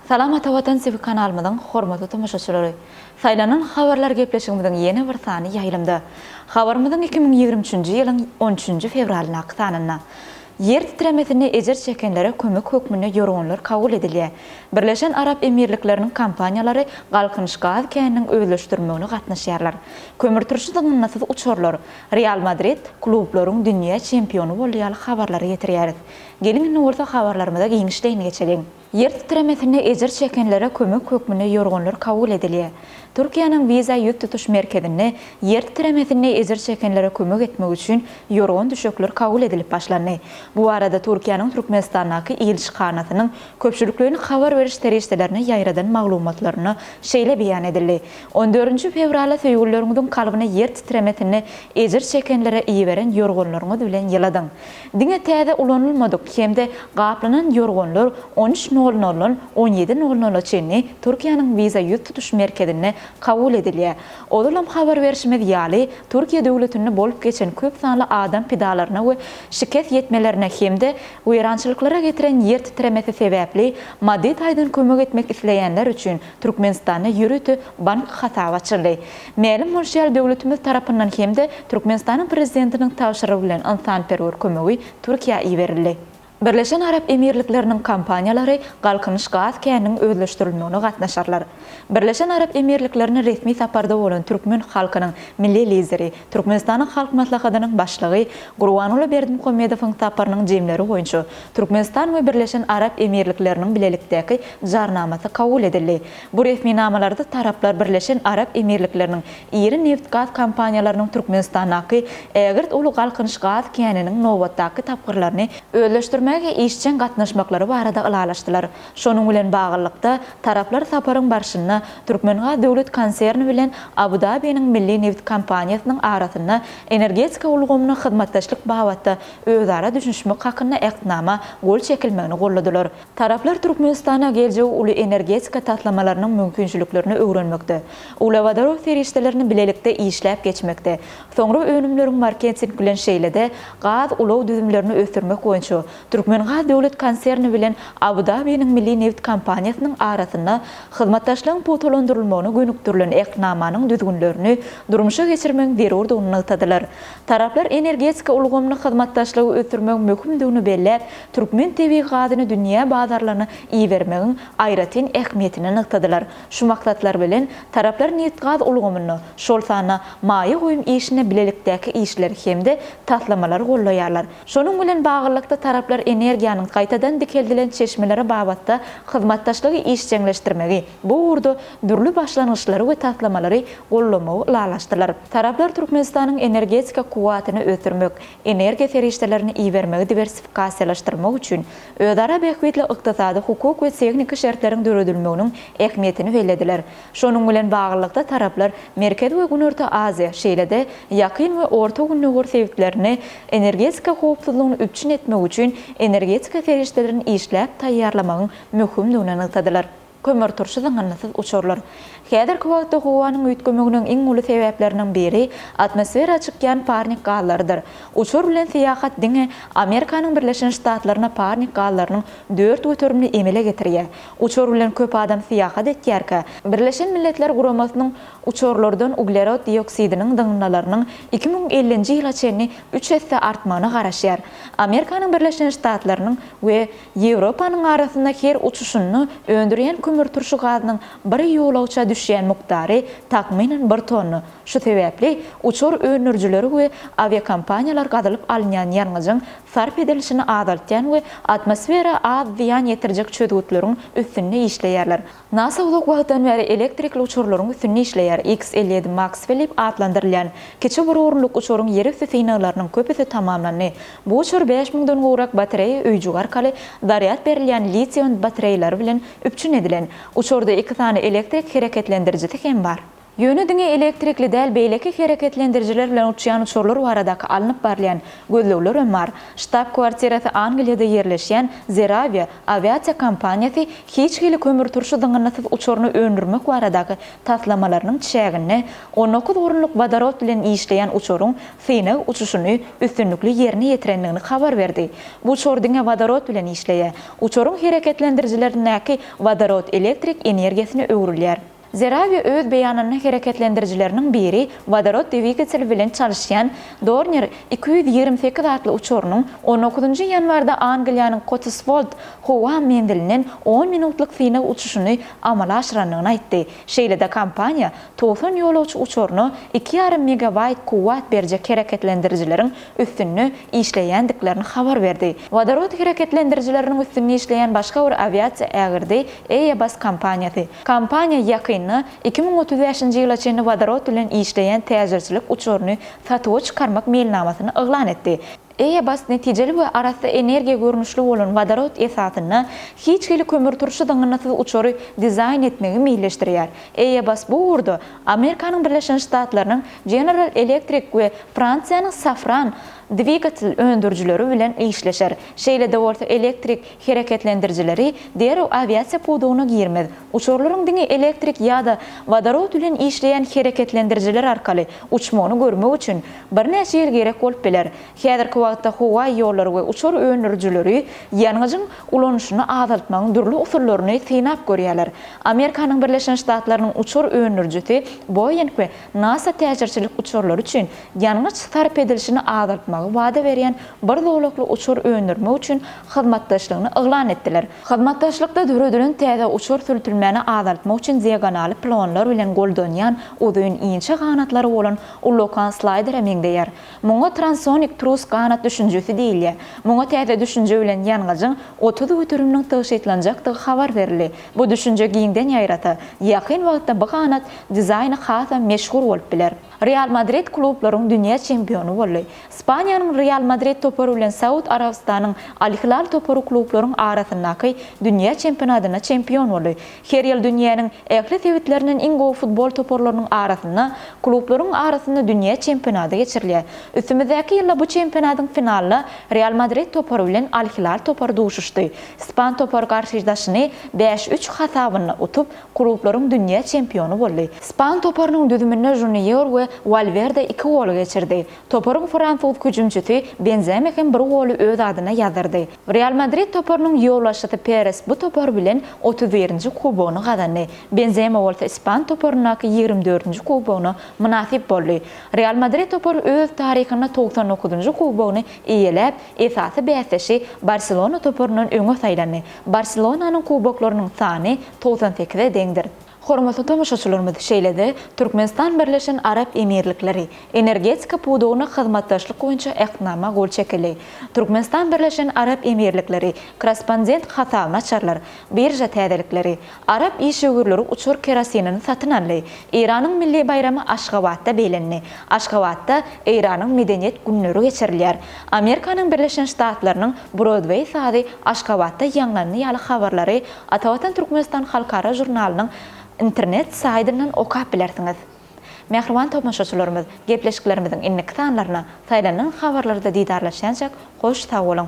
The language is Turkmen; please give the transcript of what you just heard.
Salam Ata Watan TV kanalymyzyň hormatly tomaşaçylary. Saýlanan habarlar gepleşigimiziň ýene bir sany ýaýlymda. Habarymyzyň iki müň ýigrimi üçünji ýylyň on üçünji fewralyndaky sanynda. Ýer titremesinde ejir çekenlere kömek hökmünde ýorganlar kabul edilýär. Birleşen Arap Emirlikleriniň kompaniýalary Galkynyş gaz käniniň özleşdirilmegine gatnaşýarlar. Kömürturşy zyňyndysyz uçarlar, Real Madrid klublaryň dünýä çempiony boldy ýaly habarlary getirýäris. Geliň indi bolsa habarlarymyza giňişleýin geçeliň. Ýer titremesinde ejir çekenlere kömek hökmünde ýorganlar kabul edilýär. Türkiýäniň wiza ýüz tutuş merkezinde ýer titremesinde ejir çekenlere kömek etmek üçin ýorgan-düşekler kabul edilip başlandy. Bu barada Türkiýäniň Türkmenistandaky ilçihanasynyň köpçülikleýin habar beriş serişdelerine ýaýradan maglumatlarynda şeýle beýan edildi, On dördünji fewrala söýgülileriňiziň kalbyna ýer titremesinde ejir çekenlere iberen ýorganlaryňyz bilen ýyladyň. Diňe täze ulanylmadyk hem-de gaplanan ýorganlar on üç nol noldan on ýedi nol nola çenli Türkiýäniň wiza ýüz tutuş merkezinde kabul edilýär. Ozalam habar berşimiz ýaly, Türkiýe döwletinde bolup geçen köp sanly adam pidalaryna we şikes ýetmelerine hem-de weýrançylyklara getiren ýer titremesi sebäpli maddy taýdan kömek etmek isleýänler üçin Türkmenistanda ýörite bank hasaby açyldy. Mälim bolşy ýaly, döwletimiz tarapyndan hem-de Türkmenistanyň Prezidentiniň tabşyrygy bilen ynsanperwer kömegi Türkiýä iberildi. Birleşen Arap Emirlikleriniň kompaniýalary Galkynyş gaz käniniň özleşdirilmegine gatnaşarlar. Birleşen Arap Emirliklerine resmi saparda bolan türkmen halkynyň Milli Lideri, Türkmenistanyň Halk Maslahatynyň Başlygy Gurbanguly Berdimuhamedowyň saparynyň jemleri boýunça Türkmenistan we Birleşen Arap Emirlikleriniň bilelikdäki Jarnamasy kabul edildi. Bu resminamalarda taraplar Birleşen Arap Emirlikleriniň iri nebit-gaz kompaniýalarynyň Türkmenistandaky ägirt uly Galkynyş gaz käniniň nobatdaky tapgyrlaryny özleşdirmäge işjeň gatnaşmaklary barada ylalaşdylar. Şonuň bilen baglylykda, taraplar saparyň barşynda Türkmengaz döwlet konserni bilen Abu-Dabiniň milli nebit kompaniýasynyň arasynda energetika ulgamyna hyzmatdaşlyk babatda özara düşünişmek hakynda Ähtnama gol çekilmegini golladylar. Taraplar Türkmenistana geljegi uly energetika taslamalarynyň mümkinçiliklerini öwrenmekde, uglewodorod serişdelerini bilelikde işläp geçmekde, soňra önümleriň marketing bilen şeýle-de gaz ulag düzümlerini ösdürmek boýunça Türkmengaz döwlet konserni bilen Abu-Dabiniň Milli neft kompaniýasynyň arasynda hyzmatdaşlygyň pugtalandyrylmagyna gönükdirilen Ähtnamanyň düzgünlerini durmuşa geçirmegiň zerurdygyny nygtadylar. Taraplar energetika ulgamyny hyzmatdaşlygy ösdürmegiň möhümdigini belläp, türkmen tebigy gazyny dünýä bazarlaryna ibermegiň aýratyn ähmiýetini nygtadylar. Şu maksatlar bilen, taraplar nebitgaz ulgamynda, şol sanda maýa goýum işinde bilelikdäki işleri hem-de taslamalary goldaýarlar. Şonuň bilen baglylykda, taraplar energiýanyň gaýtadan dikeldilen çeşmeleri babatda hyzmatdaşlygy işjeňleşdirmegi, Bu ugurda dürli başlangyçlary we taslamalary goldamagy ylalaşdylar. Taraplar Türkmenistanyň energetika kuwwatyny ösdürmek, energiýa serişdelerini ibermegi diwersifikasiýalaşdyrmak üçin özara bähbitli ykdysady, hukuk we tehniki şertleriň döredilmeginiň ähmiýetini bellediler. Şonuň bilen baglylykda, taraplar Merkezi we Günorta Aziýa, şeýle-de Ýakyn we Orta Gündogar sebitlerini energetika howpsuzlygyny üpjün etmek üçin energetika serişdelerini işläp taýýarlamagyň möhümdigini nygtadylar. Kömürturşy zyňyndysyz uçurlar. Häzirki wagtda howanyň üýtgemeginiň iň uly sebäpleriniň biri atmosfera çykýan parnik gazlarydyr. Uçur bilen syýahat diňe Amerikanyň Birleşen Ştatlaryna parnik gazlarynyň dört göterimini emele getirýär. Uçur bilen köp adam syýahat etýärkä, Birleşen Milletler Guramasynyň uçurlardan uglerod dioksidiniň zyňyndalarynyň iki müň ellinji ýyla çenli üç esse artmagyna garaşýar. Amerikanyň Birleşen Ştatlarynyň we Ýewropanyň arasynda her uçuşynda öndürýän kömürturşy gazynyň bir ýolagça düşýän mukdary, takmynan, bir tonna. Şu sebäpli uçar öndürijileri we awiakompaniýalar gazylyp alynýan ýangyjyň sarp edilişini azaltýan we atmosfera az zyýan ýetirjek çözgütleriň üstünde işleýärler. Nasa uzak wagtdan bäri elektrikli uçurlaryň üstünde işleýär. X elli ýedi Maxwell diýip atlandyrylýan kiçi bir orunlyk uçuryň ýerüsti synaglarynyň köpüsi tamamlandy. Bu uçur bäş müňden gowrak batareýa öýjügi arkaly zarýad berilýän litiý-ion batareýalary bilen üpjün edilen. Uçurda iki sany elektrik hereketlendirijisi hem bar. Ýöne diňe elektrikli däl beýleki hereketlendirijiler bilen uçýan uçarlar baradaky alnyp barylýan gözlegler hem bar. Ştab-kwartirasy Angliýada ýerleşýän Zeravia awiasiýa kompaniýasy hiç hili kömürturşy zyňyndysyz uçaryny öndürmek baradaky taslamalarynyň çäginde on dokuz orunlyk wodorod bilen işleýän uçaryň synag uçuşyny üstünlikli ýerine ýetirendigini habar berdi. Bu uçar diňe wodorod bilen işleýär. Uçaryň hereketlendirijilerindäki wodorod elektrik energiýasyna öwrülýär. Zerawi öz beýanynda hereketlendirijileriniň biri wodorod dwigateli bilen çalyşýan Dornier iki ýüz ýigrimi sekiz atly uçarynyň on dokuzynjy ýanwarda Angliýanyň Kotiswold howa menzilinden on minutlyk synag uçuşyny amala aşyrandygyny aýtdy. Şeýle-de kompaniýa togsan ýolagçy uçaryna iki ýarym megawaýt kuwwat berjek hereketlendirijileriň üstünde işleýändiklerini habar berdi. Wodorod hereketlendirijileriniň üstünde işleýän başga bir awiasiýa ägirdi Airbus kompaniýasy. Kompaniýa ýakynda iki müň otuz bäşinji ýyla çenli wodorod bilen işleýän täjirçilik uçaryny satuwa çykarmak meýilnamasyny yglan etdi. Airbus netijeli we arassa energiýa görnüşli bolan wodorod esasynda hiç hili kömürturşy zyňyndysyz uçary dizaýn etmegi meýilleşdirýär. Airbus bu ugurda Amerikanyň Birleşen Ştatlarynyň General Electric we Fransiýanyň Safran dwigatel öndürijileri bilen işleşer, şeýle-de bolsa elektrik hereketlendirijileri derrew awiasiýa pudagyna girmez. Uçarlaryň diňe elektrik ýa-da wodorod bilen işleýän hereketlendirijiler arkaly uçmagyny görmek üçin birnäçe ýyl gerek bolup biler. Häzirki wagtda howa ýollary we uçar öndürijileri ýangyjyň ulanyşyny azaltmagyň dürli usullaryny synap görýärler. Amerikanyň Birleşen Ştatlarynyň uçar öndürijisi Boeing we NASA täjirçilik uçarlary üçin ýangyç sarp edilişini azaltmagy wada berýän bir zolakly uçar öndürmek üçin hyzmatdaşlygyny yglan etdiler. Hyzmatdaşlykda döredilen täze uçar sürtülmäni azaltmak üçin diagonaly pilonlar bilen goldanýan uzyn inçe ganatlary bolan ullakan slaýdere meňzeýär. Muňa transonik trus ganat düşünjesi diýilýär. Muňa täze düşünje bilen ýangyjyň otuz göteriminiň tygşytlanjakdygy habar berildi. Bu düşünje giňden ýaýrasa, ýakyn wagtda bu ganat dizaýny hasam meşhur bolup biler. Real Madrid klublaryň dünýä çempiony boldy. Ispaniýanyň Real Madrid topary bilen Saud Arabystanyň Al Hilal topary klublaryň arasyndaky dünýä çempionatynda çempion boldy. Her ýyl dünýäniň ähli sebitlerinden iň gowy futbol toparlarynyň arasynda, klublaryň arasynda dünýä çempionaty geçirilýär. Üstümizdäki ýylda bu çempionatyň finalynda Real Madrid topary bilen Al Hilal topary duşuşdy. Ispan topary garşydaşyny bäş üç hasabynda utup, Klublaryň dünýä çempiony boldy. Span toparynyň düzüminde Žunior we Walwerde iki goly geçirdi. Toparyň fransuz hüjümçisi Benzema hem bir goly öz adyna ýazdyrdy. Real Madrid toparynyň ýolbaşçysy Peres bu topar bilen otuz birinji kubogyny gazandy. Benzema bolsa ispan toparyndaky ýigrimi dördünji kubogyna mynasyp boldy. Real Madrid topary öz taryhynda togsan dokuzynjy kubogyny eýeläp, esasy bäsdeşi Barselona toparyndan öňe saýlandy. Barselonanyň kuboklarynyň sany togsan sekize deňdir. Hormatly tomaşaçylarymyz, şeýle-de Türkmenistan Birleşen Arap Emirlikleri energetika pudagynda hyzmatdaşlyk boýunça Ähtnama gol çekildi. Türkmenistan Birleşen Arap Emirlikleri korrespondent hasabyny açarlar, birža täzelikleri, Arap işewürleri uçar kerosinini satyn aldy. Eýranyň milli baýramy Aşgabatda beýlendi. Aşgabatda Eýranyň Medeniýet günleri geçirilýär. Amerikanyň Birleşen Ştatlarynyň Brodweý sazy Aşgabatda ýaňlandy ýaly habarlary Atavatan Türkmenistan halkara žurnalynyň internet saýdyndan okap bilersiňiz. Mähriban tomaşaçylarymyz, gepleşiklerimiziň indiki sanlaryna saýlanylan habarlarda didarlaşýançak hoş sag boluň!